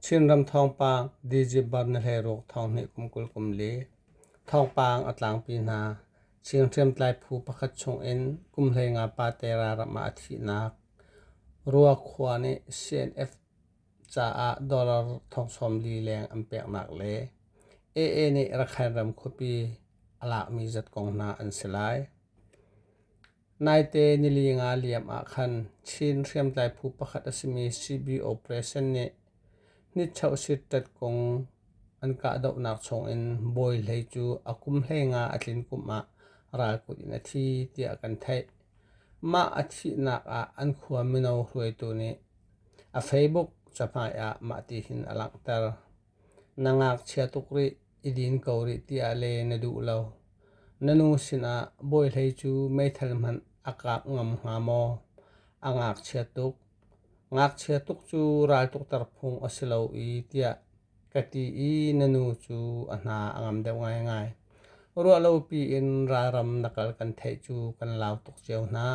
Chinram thawngpang Digibar na hleiruk thawnghneh kum kul kum li. Thawngpang a tlangpi hna. Chin hriamtlai phu pakhat chung in kum hlei nga pa tera ram ah a thihnak. Ruakhua nih CNF caah dollar thongsawm li leng an peknak le AA nih Rakhine ram khuapi a lakmi zat kong hna an si lai. Naite nili nga liam ah khan Chin hriamtlai phu pakhat a simi CB Operation nih hnitchohsitṭet kung an kahdohnak chungin bawi hlei cu a kum hlei nga a tlin kum ah ralkut in a thi tiah kan theih. Mah a thihnak ah an khua mino hruaitu nih a Facebook cahmai ah mah ti hin a langhter. Na ngakchia tuk rih i din ko rih tiah le na duh lo. Na nu sinah bawihlei cu meithal hmanh a kak ngam hnga maw? A ngakchia tuk. Ngakchia tuk cu raltukter phung a si lo i tiah ka ti i na nu cu a hna a ngam deuh ngaingai. Ruahlopi in ralram na kal kan theih cu kan lau tuk cio hna.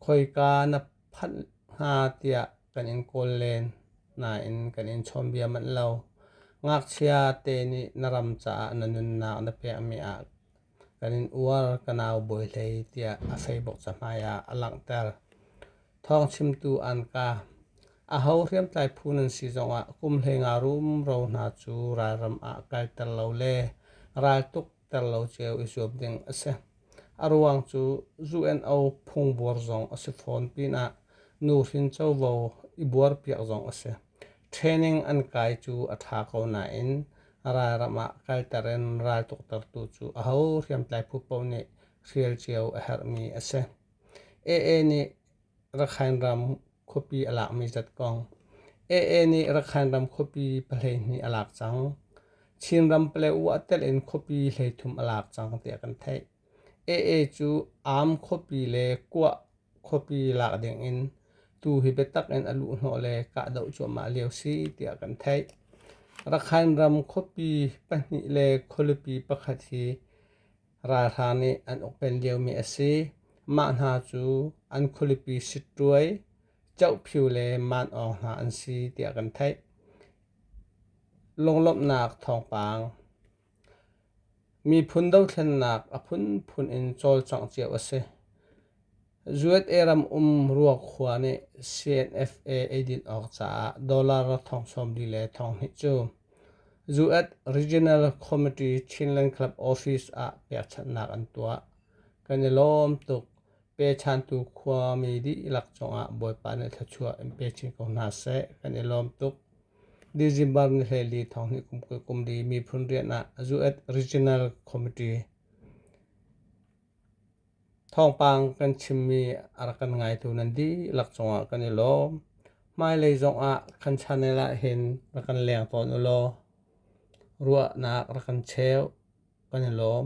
Khoika na phanh hna tiah kan in kawl len nain kan in chawnbia manh lo. Ngakchia te nih na ram caah na nunnak na pekmi ah kan in uar ka nau bawi hlei tiah a feibok cahmai ah a langhter. Thawng chimtu anka aho hriamtlai phu nan si zongah kum hlei nga rum ro hna cu ralram ah kalter lo le raltuk ter lo ceu i zuam ding a si. A ruang cu ZUNO phungbuar zong a si fawn pinah nu hrin covo i buarpiak zong a si. Training an kai cu a ṭha ko nain ralram ah kalter in ral tuaktertu cu aho hriamtlai phu paoh nih hrial cio a herhmi a si. AA nih Rakhine ram khuapi a lak mi zat kong. AA nih Rakhine ram khuapi pahleihnih a lak cang. Chin ram Palewu a tel in khuapi hleithum a lak cang tiah kan theih. AA cu am khuapi le kuah khuapi lak ding in tu hi biatak in a luh hnawh le kahdoh cuahmah lio si tiah kan theih. Rakhine ram khuapi pahnih le khualipi pakhat hi Ralhrang nih an ukpen liomi a si. Mah hna cu an khualipi sittuai, cohphyu le maan awng hna an si tiah kan theih. Lunglawmhnak thawngpang Miphun dothlennak a phunphun in cawlcangh cio a si. Kuwait ram um Ruakhua nih CNFA eidin awk caah dollar thong sawm li le thong hnih cu Kuwait Regional Committee Chinland Club Office ah pekchanhnak an tuah. Kan i lawm tuk. Pechantu khuami dihlak cungah Bawipa nih thluachuah in pe chin ko hna seh. Kan i lawm tuk. December ni hleli thong hnih kum kul kum li miphun rian ah Kuwait Regional Committee Thawngpang kan chimmi a rak kan ngaitu nan dihlak cungah kan i lawm. Hmailei zongah kan channel ah hin rak kan leng tawn u law ruahnak rak kan cheu kan i lawm.